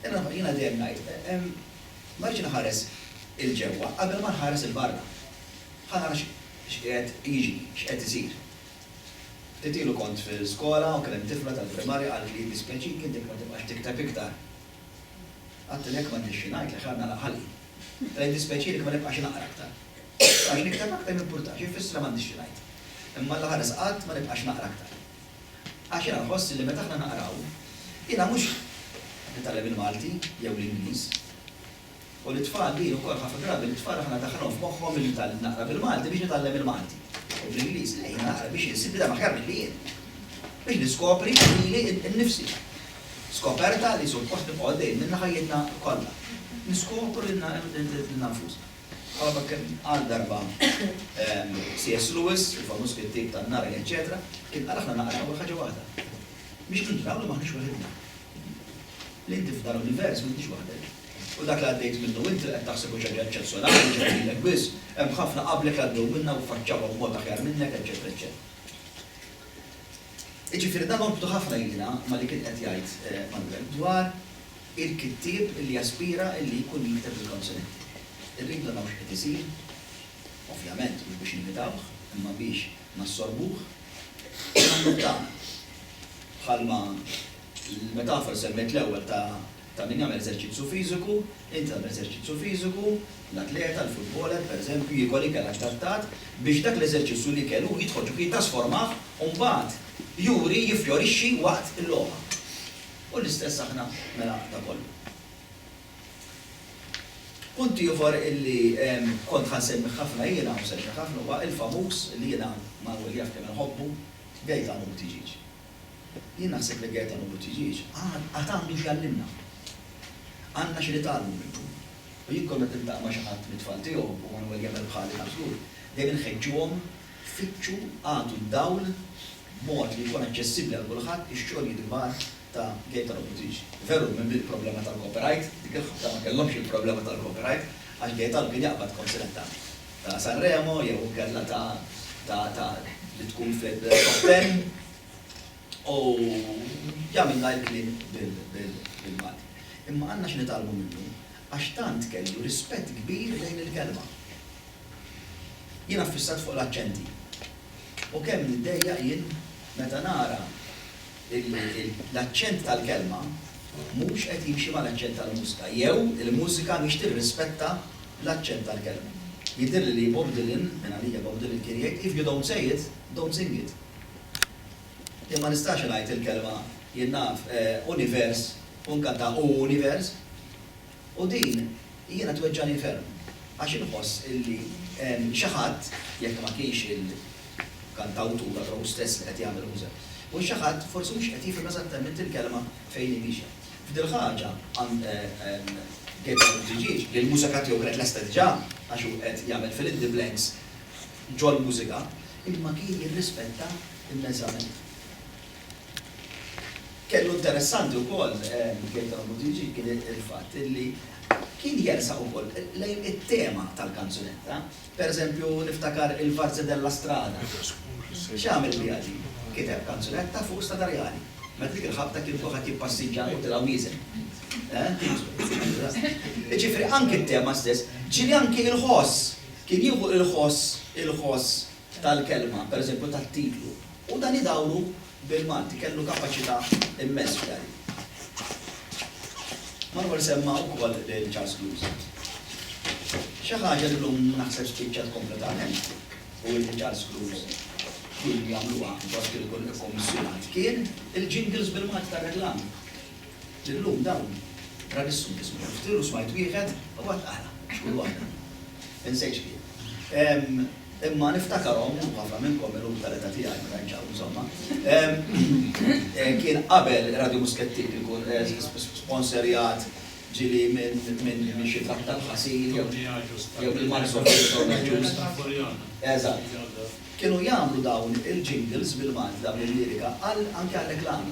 Imma jiena dejjem ngħid, ma rridx inħares 'il ġewwa qabel ma nħares 'il barra. Ħa nara x'qiegħed jiġri, x'qed isir. Ftit ilu kont fil-skola u kien hemm tifla tal-primarja qaltli jiddispjaċik intik ma tibqax tikteb iktar. Għedtilha jekk m'għandix xi ngħidlek ħa nagħlaq ħalqi. Għedtilha jiddispjaċini ma nibqax naqra aktar. Għax nikteb aktar m'impurtax, ifisser m'għandix xi ngħid. Imma l-aħħar qisqatt ma nibqax naqra aktar. Għax jiena nħoss li meta aħna naqraw, jiena mhux nitgħallem il-Malti jew l-Ingliż, u lit-tfal din ukoll ħafna drabi lit-tfal aħna ndaħħluhom f'moħħhom li naqra bil-Malti biex nitgħallem il-Malti, u bl-Ingliż le, jiena naqra biex insib bniedem aħjar milli jien, biex niskopri lili nnifsi. Skoperta li suppost nibqgħu għaddejjin minnha ħajjitna kollha. Niskopru lilna nfusna. Bħalma kien qal darba CS Lewis, il-famuż kittieb tan-Narnia eċċetera, kien qal aħna naqra nagħmlu ħaġa waħda. Biex nintraw li m'aħniex waħidna. Li inti f'dan l-univers m'intix waħdek. U dak li għaddejt minnu int li qed taħseb hu xi ħaġa eċċezzjonali li ġejja lilek biss, hemm ħafna qablek li għaddew minnha u ffaċċawha b'mod aħjar minnek eċċetera eċċetera. Jiġifieri dan norbtu ħafna jiena ma' li kien qed jgħid Manuel dwar il-kittieb li jaspira li jkun jikteb il-kanzunetti. Irridu naraw x'qed isir, ovvjament mhux biex nimitawh, imma biex nassorbuh u nagħmlu d-dawl. Bħalma l-metafora li semmejt l-ewwel ta' Ta' min jagħmel eżerċizzju fiżiku, int tagħmel eżerċizzju fiżiku, l-atleta, l-futboler, pereżempju, jiekol ikel adattat biex dak l-eżerċizzju li kel hu jidħol ġo fih, jittasformah u mbagħad juri, jiffjorixxi waqt il-logħba. U l-istess aħna mela da kollu. Punt ieħor li kont ħa nsemmih ħafna jiena u se nxerħ ħafna huwa l-famuż li jiena Manwel jaf kemm inħobbu, Gate Għamud Tiġieġ. Jien naħseb li Gaetano Buttigieg għad għandu x'jgħallimna. Għandna xi nitgħallmu minnu. U jien kull meta niltaqa' ma' xi ħadd mit-tfal tiegħu, u Manwel jagħmel bħali ta' żgur, dejjem inħeġġuhom, fittxu, agħtu d-dawl b'mod li jkun aċċessibbli għal kulħadd ix-xogħlijiet kbar ta' Gaetano Buttigieg. Veru, minn bdiet problema tal-copyright, dik il-ħabta ma kellhomx il-problema tal-copyright, għax Gaetano kien jaqbad kontinentali. ta' Sanremo jew inkella ta' ta' ta' li tkun fit-top ten u jagħmilna l-kliem bil-Malti. Imma għandna x'nitgħallmu minnu għax tant kellu rispett kbir lejn il-kelma. Jiena ffissat fuq l-aċċenti u kemm niddejjaq jien meta nara l-aċċent tal-kelma mhux qed jimxi mal-aċċent tal-mużika jew il-mużika mhix tirrispetta l-aċċent tal-kelma. Jidhirli li Bob Dylan, minn għalija Bob Dylan kien jgħid, If you don't say it, don't sing it. Jien ma nistax ngħid il-kelma, jien naf, univers u nkanta u univers. U din jiena tweġġagħni ferm għax inħoss illi xi ħadd, jekk ma kienx il-kantawtur allura hu stess li qed jagħmel il-mużika, u xi ħadd forsi mhux qed jifhem eżattament il-kelma fejn hi miexja. F'dil-ħaġa għand Gabriel Buttigieg li l-mużika tiegħu kienet lesta diġà għax hu qed jagħmel fill in the blanks ġol-mużika imma kien jirrispetta immensament. Kellu interessanti wkoll, jgħid hawn Buttigieg, kien il-fatt li kien jersaq ukoll lejn it-tema tal-kanzunetta. Pereżempju, niftakar il-Varzi della Strada. X'għamel biha din? Kiteb kanzunetta fuq stadarjali. Meta dik il-ħabta kien kulħadd jippassiġġa u tilgħu wieżen. Jiġifieri anki t-tema stess. Ġieli anki l-ħoss. Kien jieħu l-ħoss, il-ħoss tal-kelma, pereżempju tat-titlu, u dan idawru bil-Malti, kellu kapaċità immens f'dan. Manuel semma wkoll lil Charles Lewis. Xi ħaġa li llum naħseb spiċċat kompletament u li Charles Lewis kien jagħmluha fost il-kummissjonat kien il-jingles bil-Malti tar-reklam. Illum dawn ra nissu kismu kemm xtir u smajt wieħed u għad ara għax kull waħda. Insejx kien. Imma niftakarhom u ħafna minnkom illum tal-età tiegħi meta nċaqru insomma. Kien qabel Radio Muskettin ikun sponserjat ġili minn xi kap tal-ħasil jew il-Marson Ġus. Eżatt. Kienu jagħmlu dawn il-jingles bil-Malti dawn il-lirika anke għal reklami.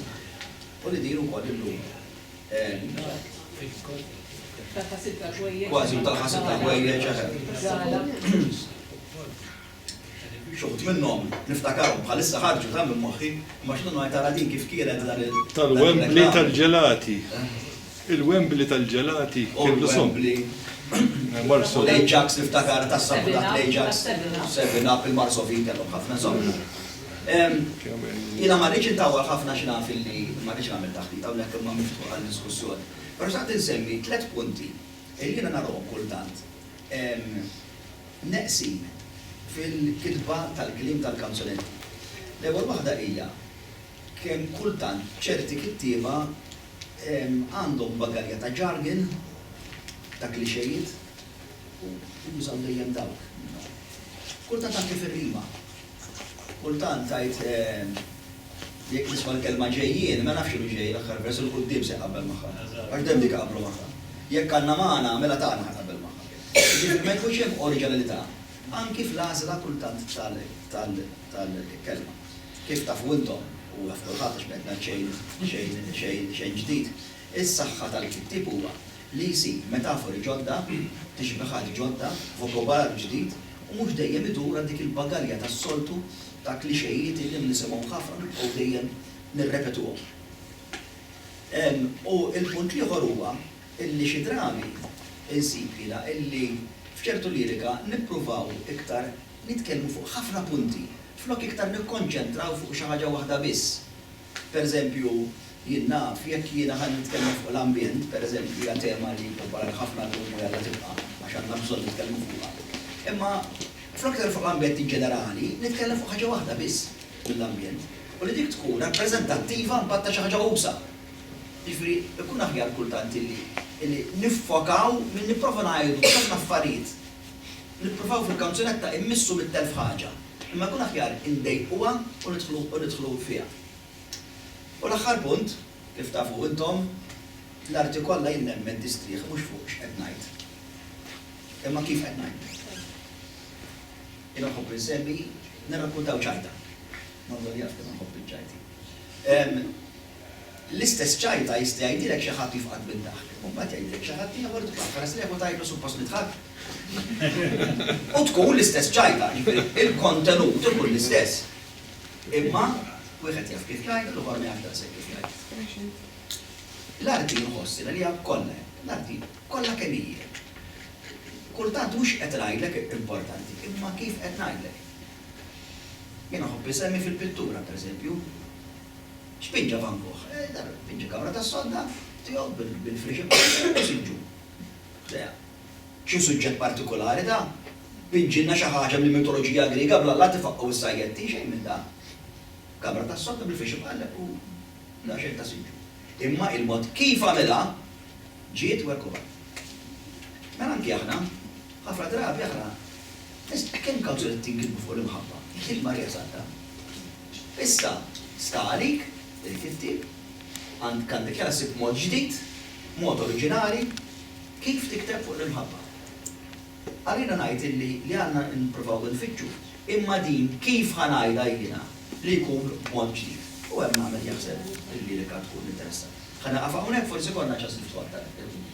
U li din ukoll illum kważi talħa sitta ħwejjeġ Xuħut minnhom niftakarhom bħalissa ħarġu ta' minn moħħi, ma x'nu ngħid tara din kif kienet dan il- Tal-Wembley tal-ġelati. Il-Wembley tal-ġelati kellu song. Old Wembley, l-Ajax niftakar tas-sabuħ taħt l-Ajax, Seven Up, il-Marsovin kellhom ħafna songs. Jiena ma rridx intawwal ħafna għax naf illi ma rridx nagħmel taħdit hawnhekk imma miftuħ għad-diskussjoni. Però xtaqt insemmi tliet punti illi jiena narahom kultant neqsin fil-kitba tal-kliem tal-kanzunetti. L-ewwel waħda hija kemm kultant ċerti kittieba Għandhom bagalja ta' jargon, ta' klixejiet u jużaw dejjem dawk. Kultant anke fir-rima. Kultant tgħid jekk tisma' l-kelma ġejjien, ma nafx x'inhu ġej, l-aħħar vers 'il quddiem se jqabbel magħha. Għax dejjem dik iqabblu magħha. Jekk għandna magħna, mela tagħna ħa jqabbel magħha. Jiġifieri ma jkunx hemm oriġinalità anki fl-għażla kultant tal-kelma. Kif tafu intom, u jaf kulħadd għax m'qed ngħid xejn, xejn, xejn, xejn ġdid, is-saħħa tal-kittieb huwa li jsib metafori ġodda, tixbihat ġodda, vokobolar ġdid u mhux dejjem idur għal dik il-bagalja tas-soltu ta' kliċejiet illi nisimgħu ħafna u nibqgħu dejjem nirrepetuhom. U l-punt l-ieħor huwa illi xi drami insib jiena illi f'ċertu lirika nippruvaw iktar nitkellmu fuq ħafna punti flok iktar nikkonċentraw fuq xi ħaġa waħda biss. Pereżempju, jien naf, jekk jiena ħa nitkellem fuq l-ambjent, pereżempju, hija tema li popolari ħafna llum u jalla tibqa', għax għandna bżonn nitkellmu fuqha. Imma flok nitkellem fuq l-ambjent in ġenerali, nitkellem fuq ħaġa waħda biss mill-ambjent, u li dik tkun rappreżentattiva mbagħad ta' xi ħaġa usa'. Jiġifieri, ikun aħjar kultant illi illi niffokaw milli nipprova ngħidu ħafna affarijiet. Nippruvaw fil-kanzunetta immissu mitt-elf ħaġa, imma jkun aħjar indejjquha u nidħlu u nidħlu fiha. U l-aħħar punt, kif tafu intom, l-arti kollha jien nemmen tistrieħ mhux fuq x'qed ngħid, imma kif qed ngħid. Jiena nħobb insemmi, nirrakkuntaw ċajta. Manzoni jaf kemm inħobb iċ-ċajti. L-istess ċajta jista' jgħidilek xi ħadd jifqad mid-daħk, u mbagħad jgħidilek xi ħadd ieħor tbagħat ħares lejh u tgħidlu suppost li dħakt. U tkun l-istess ċajta, jiġifieri l-kontenut ikun l-istess, imma wieħed jaf kif jgħid u l-ieħor ma jafx daqshekk kif jgħid. L-arti nħoss li hija kollha hekk. L-arti kollha kemm hi hekk. Kultant mhux qed ngħidlek importanti, imma kif qed ngħidlek. Jiena nħobb insemmi fil-pittura, pereżempju, Spiġġa fankuh. Fiġġi kamra tas-sodda tiegħu bil-friex imqassra u siġġu. Ħdejha. Xi suġġett partikulari da? Piġġilna xi ħaġa mill-mitoloġija Griega bla lat ifaqqgħu s-sajjetti, xejn minn dan. Kamra tas-sodda bil-friex imqalleb u daqsxejn ta' siġġu. Imma il-mod kif għamilha ġiet werkuha. Mela anki aħna, ħafna drabi aħna nistaqsu kemm kawżiet qed tinkitbu fuq l-imħabba, il-Marija Santa. Issa, sta għalik, irid il-ktieb, għand għandek ja ssib mod ġdid, mod oriġinali kif tikteb fuq l-imħabba. Għalina ngħid illi li għandna nipprovaw infittxu, imma din kif ħa ngħidha jiena li jkun b'mod ġdid? U hemm nagħmel jaħseb il-lirika tkun interessat. Ħa nieqaf hawnhekk forsi konna ċans niftu aktar il-punt.